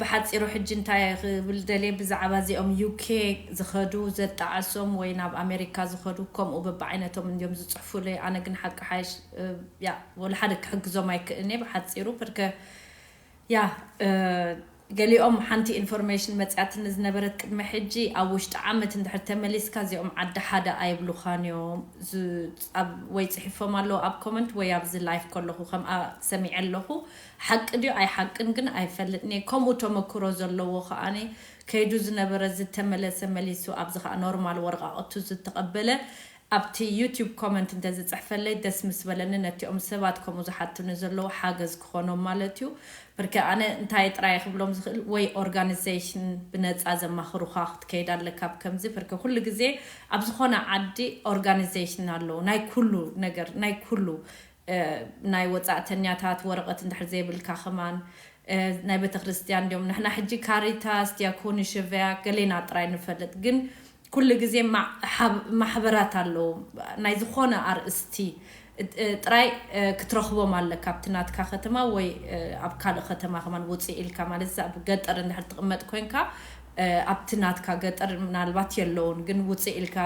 ብሓጺሩ ሕጂ እንታይ እየ ክብል ደልየ ብዛዕባ እዚኦም UK ዝኸዱ ዘጣዕሶም ወይ ናብ ኣመሪካ ዝኸዱ ከምኡ በብዓይነቶም እንድዮም ዝጽሕፉለይ ኣነ ግን ሓቂ ሓይሽ ያእ ወላ ሓደ ክሕግዞም ኣይክእልን እየ ብሓጺሩ ፐርከ ያእ ገሊኦም ሓንቲ ኢንፎርሜሽን መጽያትኒ ዝነበረት ቅድሚ ሕጂ ኣብ ውሽጢ ዓመት እንድሕር ተመሊስካ እዚኦም ዓዲ ሓደ ኣይብሉኻን እዮም ዝ ኣብ ወይ ጽሒፎም ኣለዉ ኣብ ኮመንት ወይ ኣብዚ ላይፍ ከለኹ ከምኣ ሰሚዐ ኣለኹ ሓቂ ድዩ ኣይሓቅን ግን ኣይፈልጥንየ ከምኡ ተመክሮ ዘለዎ ከኣ ከይዱ ዝነበረ ዝተመለሰ መሊሱ ኣብዚ ከኣ ኖርማል ወረቃቅቱ ዝተቀበለ ኣብቲ ዩቱብ ኮመንት እንተዝጽሕፈለይ ደስ ምስ በለኒ ነቲኦም ሰባት ከምኡ ዝሓቱኒ ዘለዉ ሓገዝ ክኮኖም ማለት እዩ ብርክ ኣነ እንታይ ጥራየ ክብሎም ዝክእል ወይ ኦርጋንዘሽን ብነጻ ዘማክሩካ ክትከይድ ኣለካ ኣብ ከምዚ ብርክ ኩሉ ግዜ ኣብ ዝኮነ ዓዲ ኦርጋንዘሽን ኣለዉ ናይ ኩሉ ነገር ናይ ኩሉ ናይ ወጻእተኛታት ወረቐት እንድሕር ዘይብልካ ከማን ናይ ቤተክርስትያን እንድዮም ንሕና ሕጂ ካሪታስ ዲያኮኒ ሸቨያ ገሌና ጥራይ ንፈልጥ ግን ኩሉ ግዜ ማሕበራት ኣለዉ ናይ ዝኾነ ኣርእስቲ ጥራይ ክትረኽቦም ኣለካ ኣብቲ ናትካ ከተማ ወይ ኣብ ካልእ ከተማ ከማን ውጽእ ኢልካ ማለት ኣብ ገጠር እንድሕር ትቕመጥ ኮንካ ኣብቲ ናትካ ገጠር ምናልባት የለዉን ግን ውጽእ ኢልካ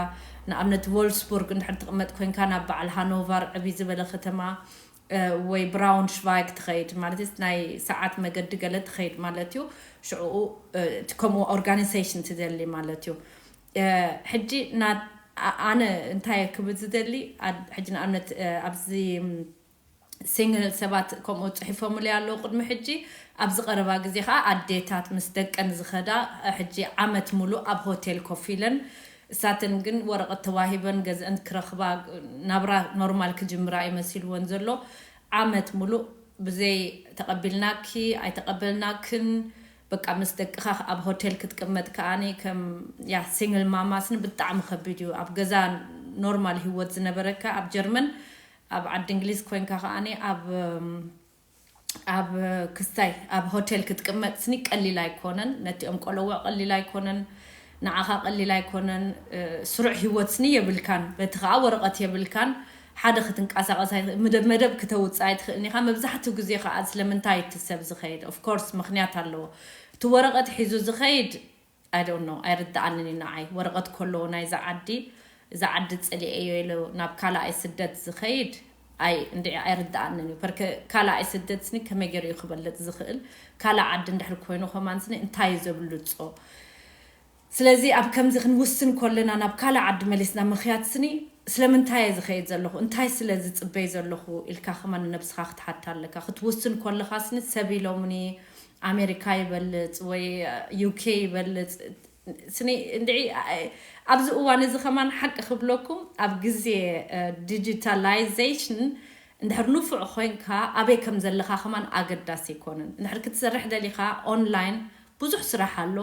ንኣብነት ቮልፍስቡርግ እንድሕር ትቅመጥ ኮንካ ናብ በዓል ሃኖቫር ዕብይ ዝበለ ከተማ ወይ ብራውንሽቫይግ ትኸይድ ማለትስ ናይ ሰዓት መገዲ ገለ ትኸይድ ማለት እዩ ሽዑኡ እቲ ከምኡ ኦርጋኒሰሽን ትደሊ ማለት እዩ ሕጂ ናት ኣነ እንታይ ክብል ዝደሊ ሕጂ ንኣብነት ኣብዚ ሲንግል ሰባት ከምኡ ጽሒፎምለይ ኣለዉ ቅድሚ ሕጂ ኣብዚ ቀረባ ግዜ ከኣ ኣዴታት ምስ ደቀን ዝከዳ ሕጂ ዓመት ሙሉእ ኣብ ሆቴል ኮፍ ኢለን እሳተን ግን ወረቀት ተዋሂበን ገዝእን ክረክባ ናብራ ኖርማል ክጅምራ እዩ መሲልወን ዘሎ ዓመት ሙሉእ ብዘይ ተቀቢልናኪ ኣይተቀበልናክን በቃ ምስ ደቅካ ኣብ ሆቴል ክትቅመጥ ከኣ ከም ያ ሲንግል ማማስ ብጣዕሚ ከቢድ እዩ ኣብ ገዛ ኖርማል ሂወት ዝነበረካ ኣብ ጀርመን ኣብ ዓዲ እንግሊዝ ኮንካ ከኣ ኣብ ኣብ ክስታይ ኣብ ሆቴል ክትቅመጥ ስኒ ቀሊል ኣይኮነን ነቲኦም ቆለውዕ ቀሊል ኣይኮነን ንዓኻ ቀሊል ኣይኮነን ስሩዕ ሂወት ስኒ የብልካን በቲ ከኣ ወረቀት የብልካን ሓደ ክትንቃሳቀስ ኣይት ምደብ መደብ ክተውጽእ ኣይትኽእልን ኢኻ መብዛሕትኡ ግዜ ከኣ ስለምንታይ እቲ ሰብ ዝኸይድ ኦፍኮርስ ምኽንያት ኣለዎ እቲ ወረቀት ሒዙ ዝኸይድ I don't know ኣይርድኣንን እዩ ንዓይ ወረቀት ኮሎዎ ናይዛ ዓዲ እዛ ዓዲ ጸሊኤዮ ኢሉ ናብ ካላኣይ ስደት ዝከይድ ኣይ እንድዒ ኣይርድኣንን እዩ ፐርከ ካላኣይ ስደት ስኒ ከመይ ገሩ እዩ ክበልጽ ዝክእል ካላእ ዓዲ እንድሕር ኮይኑ ከማን ስኒ እንታይ እዩ ዘብልጾ ስለዚ ኣብ ከምዚ ክንውስን ኮለና ናብ ካላእ ዓዲ መሊስና ምክያድ ስኒ ስለምንታይ እየ ዝከይድ ዘለኩ እንታይ ስለ ዝጽበይ ዘለኩ ኢልካ ከማን ንነብስካ ክትሓታ ኣለካ ክትውስን ኮለካ ስኒ ሰብ ኢሎምኒ ኣሜሪካ ይበልፅ ወይ ዩኬ ይበልፅ ስኒ እንድዒ ኣብዚ እዋን እዚ ከማን ሓቂ ክብለኩም ኣብ ግዜ ዲጂታላይዜሽን እንድሕር ንፉዕ ኮይንካ ኣበይ ከም ዘለኻ ከማን ኣገዳሲ ኣይኮነን እንድሕር ክትሰርሕ ደሊኻ ኦንላይን ብዙሕ ስራሕ ኣሎ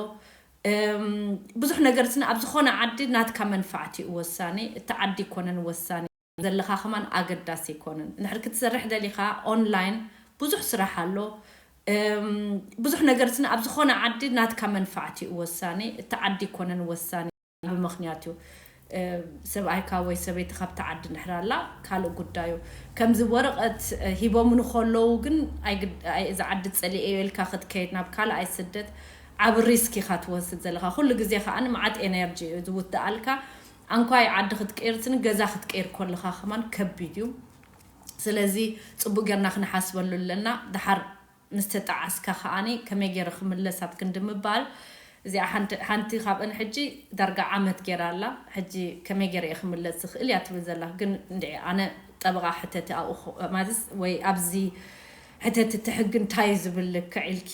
ብዙሕ ነገር ስኒ ኣብ ዝኾነ ዓዲ ናትካ መንፋዕቲ እዩ ወሳኒ እቲ ዓዲ ኣይኮነን ወሳኒ ዘለካ ከማን ኣገዳሲ ኣይኮነን እንድሕር ክትሰርሕ ደሊካ ኦንላይን ብዙሕ ስራሕ ኣሎ ብዙሕ ነገር ስነ ኣብ ዝኮነ ዓዲ ናትካ መንፋዕቲ እዩ ወሳኒ እቲ ዓዲ ኣይኮነን ወሳኒ ብምክንያት እዩ ሰብኣይካ ወይ ሰበይቲ ካብቲ ዓዲ እንድሕር ኣላ ካልእ ጉዳይ እዩ ከምዚ ወረቀት ሂቦምኒ ከለዉ ግን እዚ ዓዲ ፀሊኤዮ ኢልካ ክትከይድ ናብ ካልኣይ ስደት ዓብ ሪስክ ኢካ ትወስድ ዘለካ ኩሉ ግዜ ከኣ መዓት ኤነርጂ እዩ ዝውትኣልካ ኣንኳይ ዓዲ ክትቅይርጽን ገዛ ክትቅይር ኮለኻ ከማን ከቢድ እዩ ስለዚ ጽቡቅ ገርና ክንሓስበሉ ኣለና ድሓር ምስ ተጣዓስካ ከኣኒ ከመይ ገይረ ክምለስ ኣብ ክንዲ ምባል እዚኣ ሓንቲ ሓንቲ ካብእን ሕጂ ዳርጋ ዓመት ገይራ ኣላ ሕጂ ከመይ ገይረ እየ ክምለስ ዝኽእል እያ ትብል ዘላ ግን እንድዒ ኣነ ጠበቃ ሕተቲ ኣብኡ ማዝስ ወይ ኣብዚ ሕተቲ እቲ ሕጊ እንታይ እዩ ዝብል ልክዕ ኢልኪ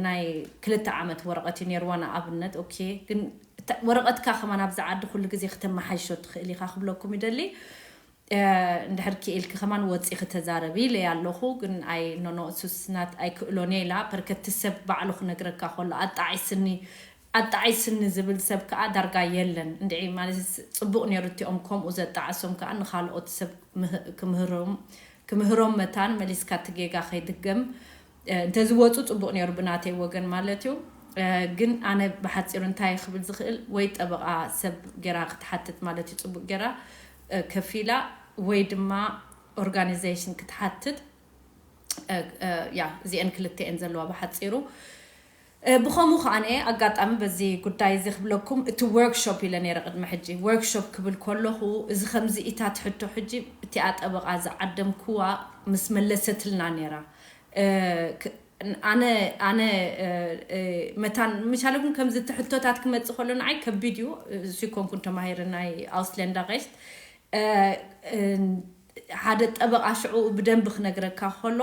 ናይ ክልተ ዓመት ወረቀት እዩ ነይርዋ ንኣብነት ኦኬ ግን እታ ወረቐትካ ከማን ኣብዛ ዓዲ ኩሉ ግዜ ክተማሓይሾ ትኽእል ኢኻ ክብለኩም ይደሊ እንድሕር ኪኢልኪ ከማን ወጺኺ ተዛረቢ ኢለያ ኣለኹ ግን ኣይ ኖኖ እሱስ ናት ኣይክእሎን እየ ኢላ ፐርከ እቲ ሰብ ባዕሉ ክነግረካ ከሎ ኣጣዒስኒ ኣጣዒስኒ ዝብል ሰብ ከኣ ዳርጋ የለን እንድዒ ማለት ጽቡቕ ኔሩ እቲኦም ከምኡ ዘጣዓሶም ከኣ ንኻልኦት ሰብ ክምህሮም ክምህሮም መታን መሊስካ እቲ ጌጋ ከይድገም እንተዝወጹ ጽቡቅ ኔሩ ብናተይ ወገን ማለት እዩ ግን ኣነ ብሓጺሩ እንታይ ክብል ዝክእል ወይ ጠበቃ ሰብ ጌራ ክትሓትት ማለት እዩ ጽቡቅ ጌራ ከፊላ ወይ ድማ ኦርጋኒዘሽን ክትሓትት ያ እዚኤን ክልተ እየን ዘለዋ ብሓጺሩ ብኸምኡ ከኣንየ ኣጋጣሚ በዚ ጉዳይ እዚ ክብለኩም እቲ ዎርክ ሾፕ ኢለ ነይረ ቅድሚ ሕጂ ዎርክ ሾፕ ክብል ከለኹ እዚ ከምዚ ኢታ ትሕቶ ሕጂ እቲኣ ጠበቓ ዝዓደምክዋ ምስ መለሰትልና ነይራ ኣነ ኣነ መታን ምቻለኩም ከምዚ እቲ ሕቶታት ክመጽእ ከሎ ንዓይ ከቢድ እዩ እሱ ኣይኮንኩን ተማሂረ ናይ ኣውስሌንዳ ሬስት ሓደ ጠበቓ ሽዕኡ ብደንቢ ክነግረካ ከሎ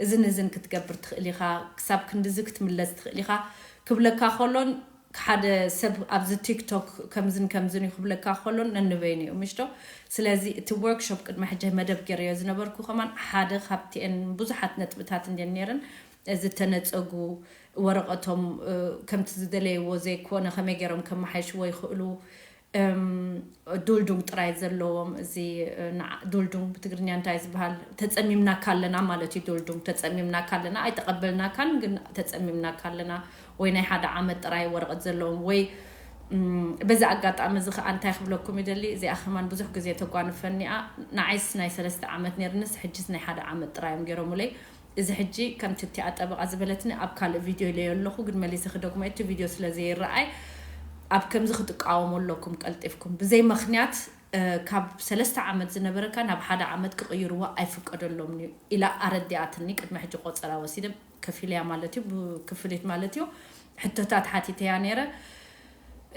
እዝን እዝን ክትገብር ትኽእል ኢኻ፣ ክሳብ ክንድዚ ክትምለስ ትኽእል ኢኻ ክብለካ ከሎን ሓደ ሰብ ኣብዚ ቲክቶክ ከምዝን ከምዝን እዩ ክብለካ ከሎን ነንበይኑ እዮም እሽዶ። ስለዚ እቲ ዎርክሾፕ ቅድሚ ሕጂ መደብ ጌረዮ ዝነበርኩ ከማን ሓደ ካብቲኤን ብዙሓት ነጥብታት እንድየን ኔረን ዝተነጸጉ ወረቐቶም ከምቲ ዝደለይዎ ዘይኮነ ከመይ ጌሮም ከመሓይሽዎ ይኽእሉ እም ዱልዱም ጥራይ ዘለዎም እዚ ንዓ ዱልዱም ብትግርኛ እንታይ ዝብሃል ተጸሚምናካ ኣለና ማለት እዩ ዱልዱም ተጸሚምናካ ኣለና ኣይተቀበልናካን ግን ተጸሚምናካ ኣለና ወይ ናይ ሓደ ዓመት ጥራይ ወረቀት ዘለዎም ወይ እም በዚ ኣጋጣሚ እዚ ከኣ እንታይ ክብለኩም ይደሊ እዚኣ ከማን ብዙሕ ግዜ ተጓንፈኒ'ያ ንዓይስ ናይ ሰለስተ ዓመት ኔርንስ ሕጂስ ናይ ሓደ ዓመት ጥራይ እዮም ጌሮሙለይ እዚ ሕጂ ከምቲ እቲኣ ጠበቓ ዝበለትኒ ኣብ ካልእ ቪድዮ ኢለዮ ኣለኹ ግን መሊሰ ክደግሞ እየ እቲ ቪድዮ ስለ ዘይረኣይ ኣብ ከምዚ ክትቃወሙ ኣለኩም ቀልጢፍኩም ብዘይ መኽንያት ካብ ሰለስተ ዓመት ዝነበረካ ናብ ሓደ ዓመት ክቕይርዋ ኣይፍቀደሎምን እዩ ኢላ ኣረዲኣትኒ ቅድሚ ሕጂ ቆጸራ ወሲደ ከፊለያ ማለት እዩ ብክፍሊት ማለት እዩ ሕቶታት ሓቲተያ ነይረ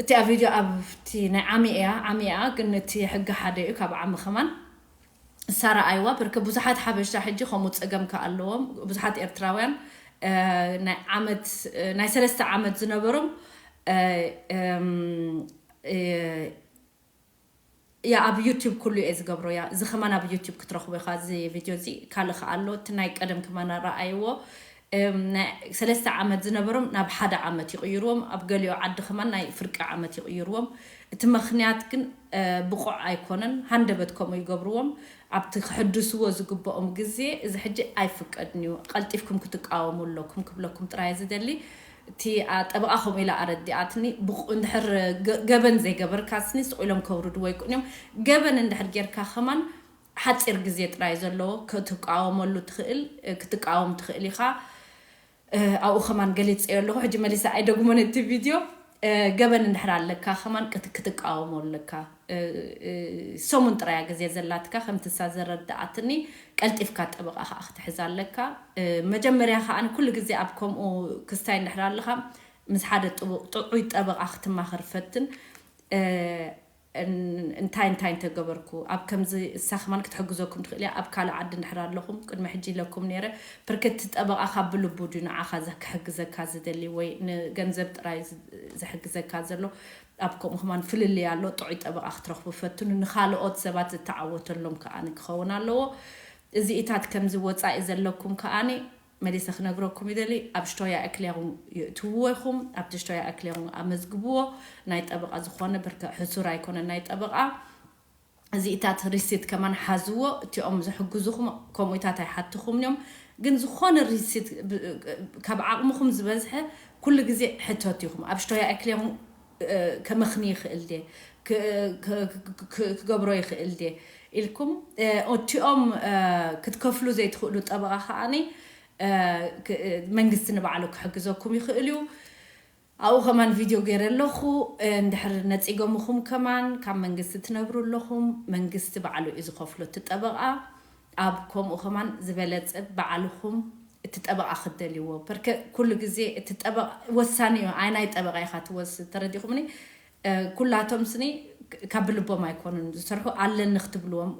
እቲኣ ቪድዮ ኣብቲ ናይ ዓሚ እያ ዓሚ እያ ግን እቲ ሕጊ ሓደ እዩ ካብ ዓሚ ከማን ሳራ ኣይዋ ብርክ ብዙሓት ሓበሻ ሕጂ ከምኡ ጸገም ከ ኣለዎም ብዙሓት ኤርትራውያን ናይ ዓመት ናይ ሰለስተ ዓመት ዝነበሮም ያ ኣብ ዩቲብ ኩሉ እየ ዝገብሮ ያ እዚ ከማን ኣብ ዩቲብ ክትረኽቦ ኢኻ እዚ ቪድዮ እዚ ካልእ ከ ኣሎ እቲ ናይ ቀደም ከማን ረኣይዎ እም ናይ ሰለስተ ዓመት ዝነበሮም ናብ ሓደ ዓመት ይቕይርዎም ኣብ ገሊኦ ዓዲ ከማን ናይ ፍርቂ ዓመት ይቕይርዎም እቲ መኽንያት ግን ብቑዕ ኣይኮነን ሃንደበት ከምኡ ይገብርዎም ኣብቲ ክሕድስዎ ዝግብኦም ግዜ እዚ ሕጂ ኣይፍቀድን እዩ ቐልጢፍኩም ክትቃወሙ ኣለኩም ክብለኩም ጥራይ እየ ዝደሊ እቲ ጠበቓ ከምኡ ኢላ ኣረዲኣትኒ ብቑዕ እንድሕር ገበን ዘይገበርካስኒ ስቕ ኢሎም ከውርድዎ ኣይክእሉን እዮም ገበን እንድሕር ጌርካ ከማን ሓጺር ግዜ ጥራይ ዘለዎ ክትቃወመሉ ትኽእል ክትቃወም ትኽእል ኢኻ ኣብኡ ከማን ገሊጸዮ ኣለኹ ሕጂ መሊሰ ኣይደግሞን እቲ ቪድዮ ገበን እንድሕር ኣለካ ከማን ክትቃወሞ ኣለካ ሰሙን ጥራይ እያ ግዜ ዘላትካ ከምቲ እሳ ዘረዳኣትኒ ቀልጢፍካ ጠበቓ ከዓ ክትሕዝ ኣለካ መጀመርያ ከዓ ኩሉ ግዜ ኣብ ከምኡ ክስታይ እንድሕር ኣለኻ ምስ ሓደ ጥዑይ ጠበቓ ክትማኸር ፈትን እንታይ እንታይ እንተ ገበርኩ ኣብ ከምዚ እሳ ከማን ክትሕግዘኩም ትክእል እያ ኣብ ካልእ ዓዲ እንድሕር ኣለኹም ቅድሚ ሕጂ ኢለኩም ነይረ ብርክ እቲ ጠበቃካ ብልቡ ድዩ ንዓካ ክሕግዘካ ዝደሊ ወይ ንገንዘብ ጥራይ ዝሕግዘካ ዘሎ ኣብ ከምኡ ከማን ፍልልይ ኣሎ ጥዑይ ጠበቃ ክትረክቡ ፈትኑ ንካልኦት ሰባት ዝተዓወተሎም ከኣ ክከውን ኣለዎ እዚኢታት ከምዚ ወጻኢ ዘለኩም ከኣ መሊሰ ክነግረኩም ይደሊ ኣብ ሽቶያ እክሌሩንግ ይእትውዎ ኢኹም ኣብቲ ሽቶያ እክሌሩንግ ኣመዝግብዎ ናይ ጠበቓ ዝኾነ ብርከ ሕሱር ኣይኮነን ናይ ጠበቓ እዚኢታት ሪሲት ከማን ሓዝዎ እቲኦም ዝሕግዙኹም ከምኡኢታት ኣይሓትኹምን እዮም ግን ዝኾነ ሪሲት ካብ ዓቕምኹም ዝበዝሐ ኩሉ ግዜ ሕተቱ ኢኹም ኣብ ሽቶያ እክሌሩንግ ከመኽኒ ይኽእል ድየ? ክገብሮ ይኽእል ድየ? ኢልኩም እቲኦም ክትከፍሉ ዘይትኽእሉ ጠበቓ ከኣ መንግስቲ ንባዕሉ ክሕግዘኩም ይኽእል እዩ። ኣብኡ ከማን ቪድዮ ገይረ ኣለኹ። እንድሕር ነጺገሙኹም ከማን ካብ መንግስቲ ትነብሩ ኣለኹም መንግስቲ ባዕሉ እዩ ዝኸፍሎ እቲ ጠበቓ። ኣብ ከምኡ ከማን ዝበለጸ ባዕልኩም እቲ ጠበቃ ክትደልይዎ ፐርከ ኩሉ ግዜ እቲ ጠበቃ ወሳኒ እዩ ኣይናይ ጠበቃ ኢካ ትወስድ ተረዲኩምኒ ኩላቶም ስኒ ካብ ብልቦም ኣይኮኑን ዝሰርሑ ኣለኒ ክትብልዎም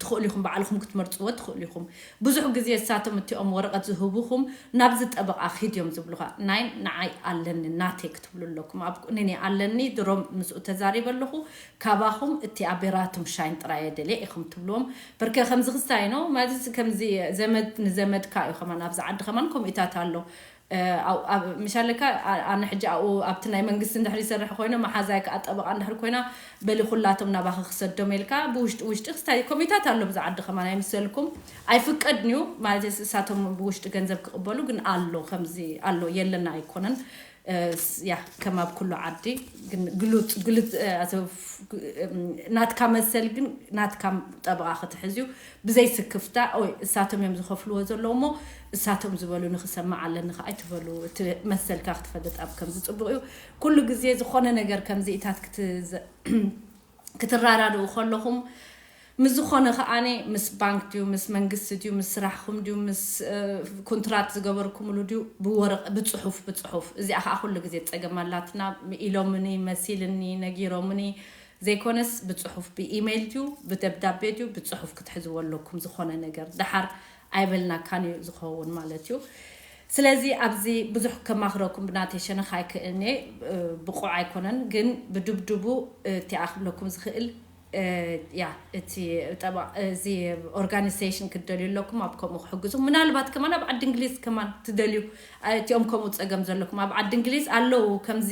ትክእሉ ኢኩም ባዕልኩም ክትመርጽዎ ትክእሉ ኢኩም ብዙሕ ግዜ እሳቶም እቲኦም ወረቀት ዝህቡኩም ናብዚ ጠበቃ ኪድ እዮም ዝብሉካ ናይ ንዓይ ኣለኒ ናተይ ክትብሉ ኣለኩም ኣብ ቁኒኒ ኣለኒ ድሮም ምስኡ ተዛሪበ ኣለኩ ካባኩም እቲ ኣቤራቱም ሻይን ጥራይ እየ ደልየ ኢኩም ትብልዎም በርከ ከምዚ ክስታይ ን ማለት ከምዚ ዘመድ ንዘመድካ እዩ ከማን ኣብዚ ዓዲ ከማን ከምኢታት ኣሎ ምሻለካ ኣነ ሕጂ ኣብኡ ኣብቲ ናይ መንግስቲ እንድሕር ይሰርሕ ኮይነ መሓዛይ ከዓ ጠበቃ እንድሕር ኮይና በሊ ኩላቶም ናባኺ ክሰዶም ኢልካ ብውሽጢ ውሽጢ ክስታይ ከምኢታት ኣሎ ኣብዚ ዓዲ ከማን ኣይምሰልኩም ኣይፍቀድን እዩ ማለት እሳቶም ብውሽጢ ገንዘብ ክቅበሉ ግን ኣሎ ከምዚ ኣሎ የለና ኣይኮነን ያህ ከም ኣብ ኩሉ ዓዲ ግን ግሉጽ ግልጽ ናትካ መሰል ግን ናትካ ጠበቓ ክትሕዝ እዩ ብዘይ ስክፍታ ኦይ እሳቶም እዮም ዝኸፍልዎ ዘለዉ እሞ እሳቶም ዝበሉ ንክሰምዕ ኣለኒ ከ ኣይትበሉ እቲ መሰልካ ክትፈልጥ ኣብ ከምዚ ጽቡቕ እዩ ኩሉ ግዜ ዝኾነ ነገር ከምዚኢታት ክት ክትራዳድኡ ከለኹም ምስ ዝኾነ ከኣ ምስ ባንክ ድዩ ምስ መንግስቲ ድዩ ምስ ስራሕኹም ድዩ ምስ ኩንትራት ዝገበርኩምሉ ድዩ ብወረቀ ብጽሑፍ ብጽሑፍ እዚኣ ከኣ ኩሉ ግዜ ጸገም ኣላትና ኢሎምኒ መሲልኒ ነጊሮምኒ ዘይኮነስ ብጽሑፍ ብኢመይል ድዩ ብደብዳቤ ድዩ ብጽሑፍ ክትሕዝዎ ኣለኩም ዝኾነ ነገር ደሓር ኣይበልናካን እዩ ዝከውን ማለት እዩ ስለዚ ኣብዚ ብዙሕ ከማክረኩም ብናተይ ሸነክ ኣይክእልን እየ ብቁዕ ኣይኮነን ግን ብድብድቡ እቲኣ ክብለኩም ዝክእል እያ እቲ ጠበቃ እዚ ኦርጋኒሰሽን ክትደልዩ ኣለኩም ኣብ ከምኡ ክሕግዙ ምናልባት ከማን ኣብ ዓዲ እንግሊዝ ከማን ትደልዩ እቲኦም ከምኡ ጸገም ዘለኩም ኣብ ዓዲ እንግሊዝ ኣለው ከምዚ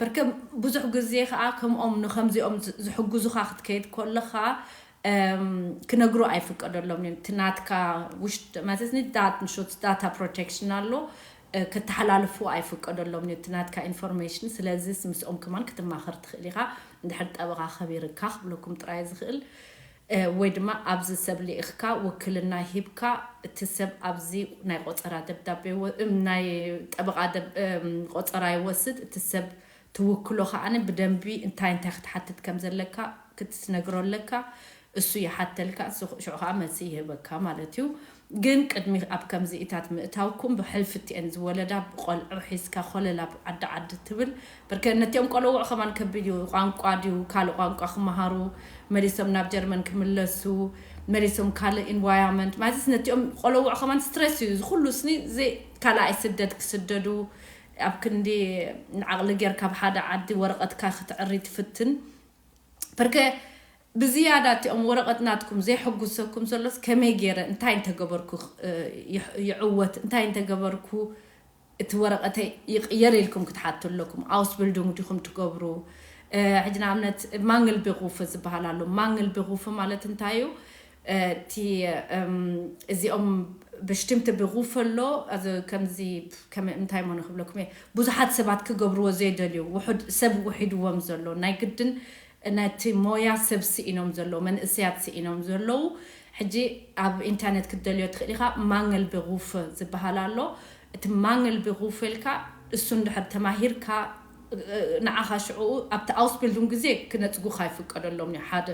በርከ ብዙሕ ግዜ ከኣ ከምኦም ንከምዚኦም ዝሕግዙኻ ክትከይድ ኮለኻ ክነግሩ ኣይፍቀደሎምን እዮም እቲ ናትካ ውሽጥ ማለትኒ ዳትንሾት ዳታ ፕሮቴክሽን ኣሎ ከተሓላልፉ ኣይፍቀደሎምን እዩ እቲ ናትካ ኢንፎርሜሽን ስለዚስ ምስኦም ከማን ክትማኸር ትኽእል ኢኻ እንድሕር ጠበቓ ከቢርካ ክብለኩም ጥራይ ዝኽእል ወይ ድማ ኣብዚ ሰብ ልኢኽካ ውክልና ሂብካ እቲ ሰብ ኣብዚ ናይ ቆጸራ ደብዳቤ ናይ ጠበቓ ቆጸራ ይወስድ እቲ ሰብ ትውክሎ ከኣ ብደንቢ እንታይ እንታይ ክትሓትት ከም ዘለካ ክትነግሮ ኣለካ እሱ ይሓተልካ እሱ ሽዑ ከኣ መልሲ ይህበካ ማለት እዩ። ግን ቅድሚ ኣብ ከምዚኢታት ምእታውኩም ብሕልፍቲኤን ዝወለዳ ቆልዑ ሒዝካ ኮለል ኣብ ዓዲ ዓዲ ትብል ብርከ ነቲኦም ቆለውዑ ከማን ከቢድ እዩ ቋንቋ ድዩ ካልእ ቋንቋ ክማሃሩ መሊሶም ናብ ጀርመን ክምለሱ መሊሶም ካልእ ኢንቫያመንት ማለትስ ነቲኦም ቆለውዑ ከማን ስትረስ እዩ ዝኩሉ ስኒ ዘይ ካልኣይ ስደድ ክስደዱ ኣብ ክንዲ ንዓቕሊ ጌርካ ኣብ ሓደ ዓዲ ወረቐትካ ክትዕሪ ትፍትን ብርከ ብዝያዳ እቲኦም ወረቐት ናትኩም ዘየሐጉሰኩም ዘሎስ ከመይ ገይረ እንታይ እንተ ገበርኩ ይዕወት እንታይ እንተ ገበርኩ እቲ ወረቐተይ ይቕየር ኢልኩም ክትሓቱ ኣለኩም። Ausbildung ዲኹም ትገብሩ ሕጂ ንኣብነት Mangelberufe ዝበሃል ኣሎ Mangelberufe ማለት እንታይ እዩ እቲ እዚኦም Bestimmte Berufe ኣሎ እዚ ከምዚ ከም እንታይ እሞ ንክብለኩም እየ ብዙሓት ሰባት ክገብርዎ ዘይደልዩ ውሑድ ሰብ ውሒድዎም ዘሎ ናይ ግድን ነቲ ሞያ ሰብ ስኢኖም ዘለዉ መንእሰያት ስኢኖም ዘለዉ ሕጂ ኣብ ኢንተርነት ክትደልዮ ትኽእል ኢኻ ማንገል ቤሩፈ ዝበሃል ኣሎ እቲ ማንገል ቤሩፈ ኢልካ እሱ እንድሕር ተማሂርካ ንዓኻ ሽዑኡ ኣብቲ ኣውስቢልዱንግ ግዜ ክነጽጉኻ ይፍቀደሎም እዩ ሓደ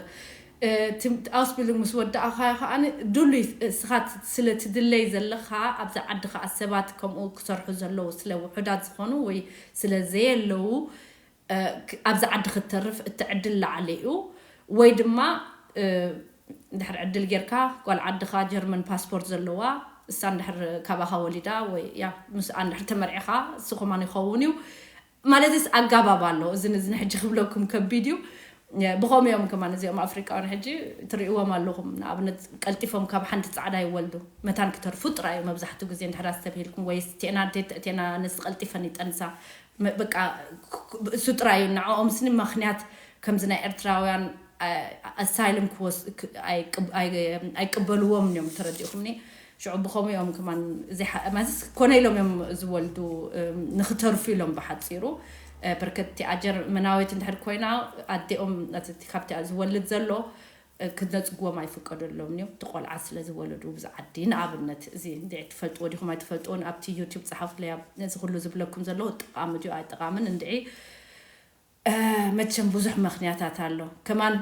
እቲ ኣውስቢልዱንግ ምስ ወዳእኻዮ ከኣ ድሉይ እስኻ ስለ ትድለይ ዘለኻ ኣብዚ ዓዲ ከኣ ሰባት ከምኡ ክሰርሑ ዘለዉ ስለ ውሑዳት ዝኾኑ ወይ ስለ ዘየለዉ ኣብዚ ዓዲ ክትተርፍ እቲ ዕድል ላዕሊ እዩ ወይ ድማ እንድሕር ዕድል ጌርካ ጓል ዓድኻ ጀርመን ፓስፖርት ዘለዋ እሳ እንድሕር ካባኻ ወሊዳ ወይ ያው ምስኣ እንድሕር ተመርዒኻ እሱ ከማን ይኸውን እዩ ማለትስ ኣጋባብ ኣሎ እዚ ንዝን ሕጂ ክብለኩም ከቢድ እዩ ብኸምኡ እዮም ከማን እዚኦም ኣፍሪቃውያን ሕጂ ትርእይዎም ኣለኹም ንኣብነት ቀልጢፎም ካብ ሓንቲ ጻዕዳ ይወልዱ መታን ክተርፉ ጥራይ እዩ መብዛሕትኡ ግዜ እንድሕር ኣስተብሂልኩም ወይስ ቴና ቴና ኣነስ ቀልጢፈን ይጠንሳ በቃ እሱ ጥራይ እዩ ንዕኦምስኒ መክንያት ከምዚ ናይ ኤርትራውያን ኣሳይልም ክወስ ኣይቅበልዎምን እዮም ተረዲእኹምኒ ሽዑ ብኸምኡ እዮም ከማን ማለትስ ኮነ ኢሎም እዮም ዝወልዱ ንክተርፉ ኢሎም ብሓፂሩ በርከቲ ኣጀር መናዊት እንድሕር ኮይና ኣዴኦም ካብቲ ዝወልድ ዘሎ ክነጽግዎም ኣይፍቀደሎምን እዮም እቲ ቆልዓ ስለ ዝወለዱ ብዚ ዓዲ ንኣብነት እዚ እንድዒ ትፈልጥዎ ዲኹም ኣይትፈልጥዎን ኣብቲ ዩቱብ ጸሓፉለይ ኣብ እዚ ኩሉ ዝብለኩም ዘለኹ ጠቓሚ ድዩ ኣይጠቓምን እንድዒ መቸም ብዙሕ መኽንያታት ኣሎ ከማን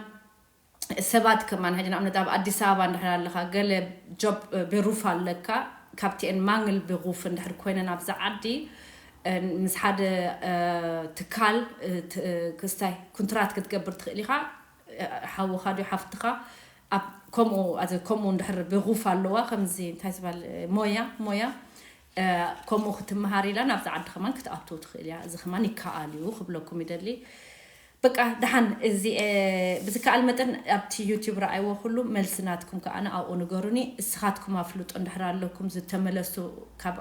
ሰባት ከማን ሕጂ ንኣብነት ኣብ ኣዲስ ኣበባ እንድሕር ኣለኻ ገለ ጆብ ቤሩፍ ኣለካ ካብቲኤን ማንግል ቤሩፍ እንድሕር ኮይነን ኣብዚ ዓዲ ምስ ሓደ ትካል ክስታይ ኩንትራት ክትገብር ትኽእል ኢኻ ሓውኻ ድዩ ሓፍትኻ ኣብ ከምኡ ኣዚ ከምኡ እንድሕር ብጉፍ ኣለዋ ከምዚ እንታይ ዝባል ሞያ ሞያ ከምኡ ክትመሃር ኢላ ናብዚ ዓዲ ከማን ክትኣቱ ትኽእል እያ እዚ ከማን ይከኣል እዩ ክብለኩም ይደሊ በቃ ደሓን እዚ ብዝከኣል መጠን ኣብቲ ዩቲዩብ ረኣይዎ ኩሉ መልሲ ናትኩም ከኣነ ኣብኡ ንገሩኒ እስኻትኩም ኣፍልጦ እንድሕር ኣለኩም ዝተመለሱ ካብ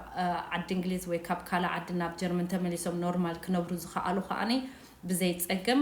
ዓዲ እንግሊዝ ወይ ካብ ካልእ ዓዲ ናብ ጀርመን ተመሊሶም ኖርማል ክነብሩ ዝኸኣሉ ከኣኒ ብዘይፀገም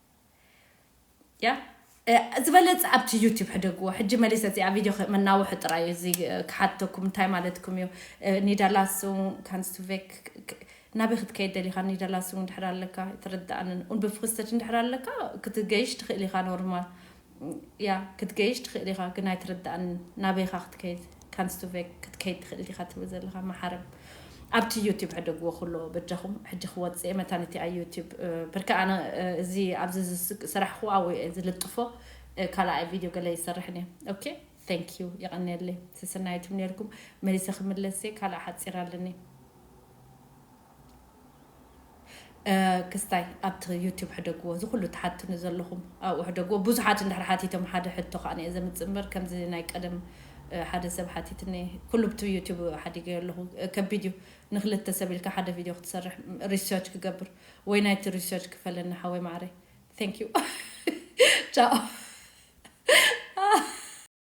ያ ዝበለጸ ኣብቲ ዩቲብ ሕደግዎ ሕጂ መሊሰ እዚኣ ቪድዮ መናውሒ ጥራይ እዚ ክሓተኩም እንታይ ማለትኩም እዩ ኒዳላሱን ካንስቱቬክ ናበይ ክትከይድ ደሊኻ ኒዳላሱን ድሕር ኣለካ ትርዳእንን ኡን ብፍክስተች ድሕር ኣለካ ክትገይሽ ትኽእል ኢኻ ኖርማል እያ ክትገይሽ ትክእል ኢካ ግን ኣይትርዳኣንን ናበይ ኢካ ክትከይድ ካንስቱቬክ ክትከይድ ትክእል ዲካ ትብል ዘለካ ማሓረም ኣብቲ ዩቱብ ሕደግዎ ኩሎ በጃኩም ሕጂ ክወጽእ እየ መታን እቲኣ ዩቱብ ብርክ ኣነ እዚ ኣብዚ ዝሰራሕክዎ ኣብኡ እየ ዝልጥፎ ካልኣይ ቪድዮ ገለ ይሰርሕን እየ ኦኬ ቴንክ ዩ የቀንየለይ ስስናይቱም ነርኩም መሊሰ ክምለስ እየ ካልኣ ሓጺር ኣለኒ ክስታይ ኣብቲ ዩቱብ ሕደግዎ እዚ ኩሉ ትሓትኑ ዘለኹም ኣብኡ ሕደግዎ ብዙሓት እንድሕር ሓቲቶም ሓደ ሕቶ ከኣ እየ ዘምጽእ እምበር ከምዚ ናይ ቀደም ሓደ ሰብ ሓቲትኒ ኩሉ ብቲ ዩቱብ ሓዲገዮ ኣለኹ ከቢድ እዩ ንክልተ ሰብ ኢልካ ሓደ ቪድዮ ክትሰርሕ ሪሰርች ክገብር ወይ ናይቲ ሪሰርች ክፈለኒ ሓወይ ማዕረይ ዩ ቻኦ